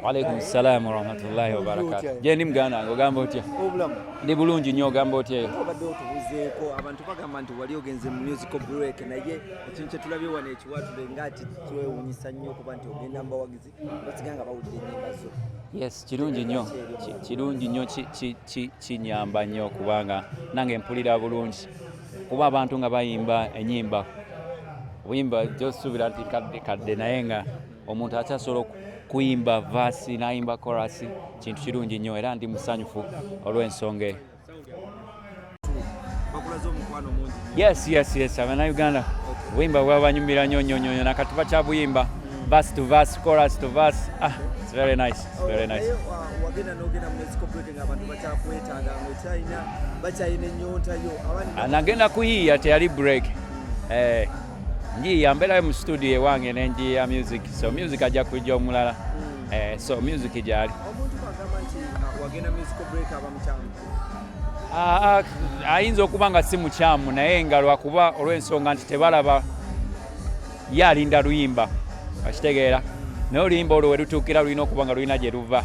Waalaikum salaam warahmatullahi wabarakatuh. Je, ni mganda wange ogamba otya? Ndi bulungi nnyo ogamba otya eyo? Obadde otubuzeeko abantu bagamba nti wali ogenze mu musical break naye ekintu kye tulabye wano ekiwatule ng'ati twewunyisa nnyo kuba nti ogenda mu bawagizi basiga nga bawulira ennyimba zo. Yes, kirungi nnyo kirungi nnyo kinyamba nnyo kubanga nange mpulira bulungi kuba abantu nga bayimba ennyimba obuyimba josuubira nti kadde kadde naye nga omuntu akyasobola kuyimba vaasi n'ayimba korasi kintu kirungi nnyo era ndi musanyufu olw'ensonga eyo yes yes yes abanauganda obuyimba bwabanyumira nnyo nnyo nnyo nakati bakyabuyimba verse to verse, chorus to verse. Ah, it's very nice. It's very nice. Anagenda kuyiya teyali break. Eh. njiya mbeerayo mu studio ewange ne njiya music so music ajja kujja omulala mm. eh, so music gyali ah, ah, ayinza okuba nga si mukyamu naye nga lwakuba olw'ensonga nti tebalaba ye alinda luyimba akitegeera naye oluyimba olwo we lutuukira lulina okuba nga lulina gye luva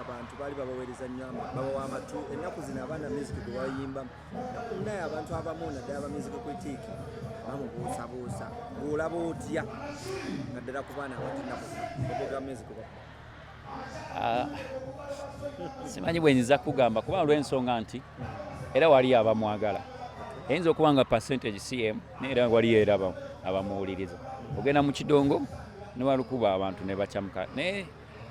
abantu baali babaweereza nnyo babawa amatu ennaku zino abaana music gwe bayimba naye abantu abamu naddala ba music critic bamubuusabuusa bwolaba otya naddala ku baana abatinnaku ogoga music ah, simanyi bwenyinza kugamba kuba olw'ensonga nti era waliyo abamwagala eyinza okuba nga percentage cm naye era waliyo era abamuwuliriza ogenda mu kidongo newalukuba abantu nebacamuka naye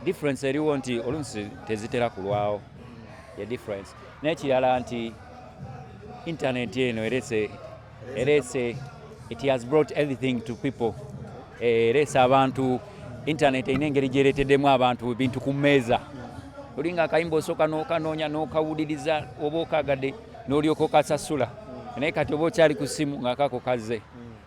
difference eriwo nti oluusi tezitera kulwawo ye difference n'ekirala nti intaneti eno erese erese it has brought everything to people eh, erese abantu intaneti erina engeri gyereeteddemu abantu ebintu ku mmeeza olinga akayimba osooka n'okanoonya n'okawuliriza oba okagadde n'olyoka okasasula naye kati oba okyali ku ssimu ng'akako kazze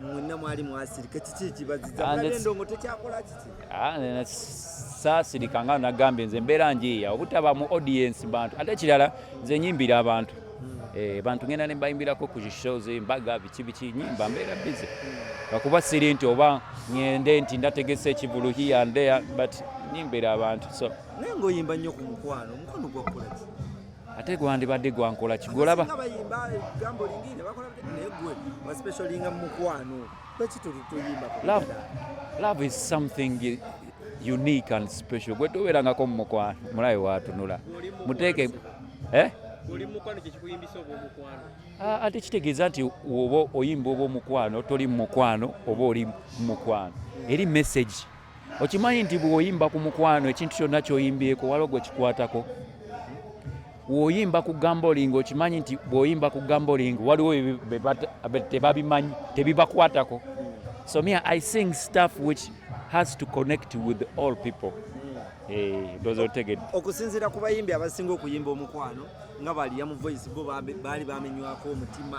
mwenna mwali mwasirika kiki ekibaziza ah, endongo tekyakola kiki ah, saasirika nga nagambye nze mbeera njiiya obutaba mu audience bantu ate ekirala nze nyimbira abantu hmm. eh, bantu ngenda ne mbayimbirako ku shows embaga biki biki nyimba mbeera bize lwakuba hmm. siri nti oba ngende nti ndategese ekivulu here and there but nyimbira abantu so naye ngaoyimba nnyo ku mukwano omukwano gwakolaki ate gwandibadde gwankola kigolaba love is something unique and special gwe tobeerangako mu mukwano mulabe watunula muteeke eh? ah, ate kitegeeza nti oba oyimba oba omukwano toli mu mukwano oba oli mu mukwano eri message okimanyi nti bwoyimba ku mukwano ekintu kyonna kyoyimbyeko waliwo gwe kikwatako woyimba ku gamboling okimanyi nti bwoyimba ku gamboling waliwo tebabimanyi tebibakwatako so me i sing stuff which has to connect with all people Eh, ndoza otegedde okusinziira ku bayimbi abasinga okuyimba omukwano nga baliya mu voice bo baali bamenywako omutima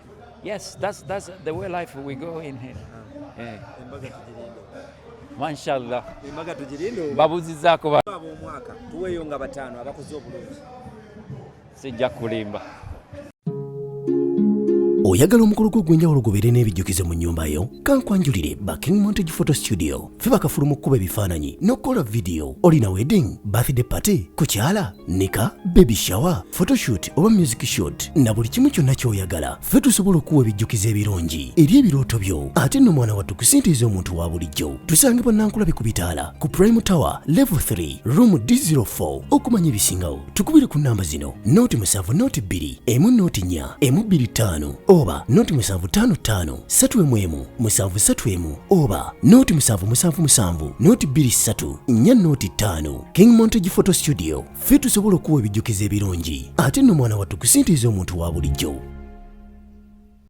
Yes, that's, that's the way life we go in here. Ah. Eh. Mashallah. Embaga tugirinde. Babuzizaako ba. Ab'omwaka tuweeyo nga bataano abakoze obulungi. Sijja kulimba. oyagala omukolo gwo ogw'enjawulo gubeere n'ebijjukizo mu nnyumba yo kankwanjulire ba king montage photo studio ffe bakafulu mu kkuba ebifaananyi n'okukola vidiyo olina wedding birthday party kukyala nika baby shower photoshoot oba music shot na buli kimu kyonna ky'oyagala ffe tusobola okuwa ebijjukizo ebirungi eri ebirooto byo ate nno mwana wattu kusintiiza omuntu wa bulijjo tusange bannankulabi ku bitaala ku prime tower level 3 room d04 okumanya ebisingawo tukubire ku namba zino noti musanvu noti bbiri emu noti nnya emu bbiri ttaano oba noti musanvu ttaano ttaano ssatu emu emu musanvu ssatu emu oba noti musanvu musanvu musanvu noti bbiri ssatu nnya noti ttaano king montage photo studio ffe tusobola okuwa ebijjukizo ebirungi ate nno mwana wattu kusintiiza omuntu wa bulijjo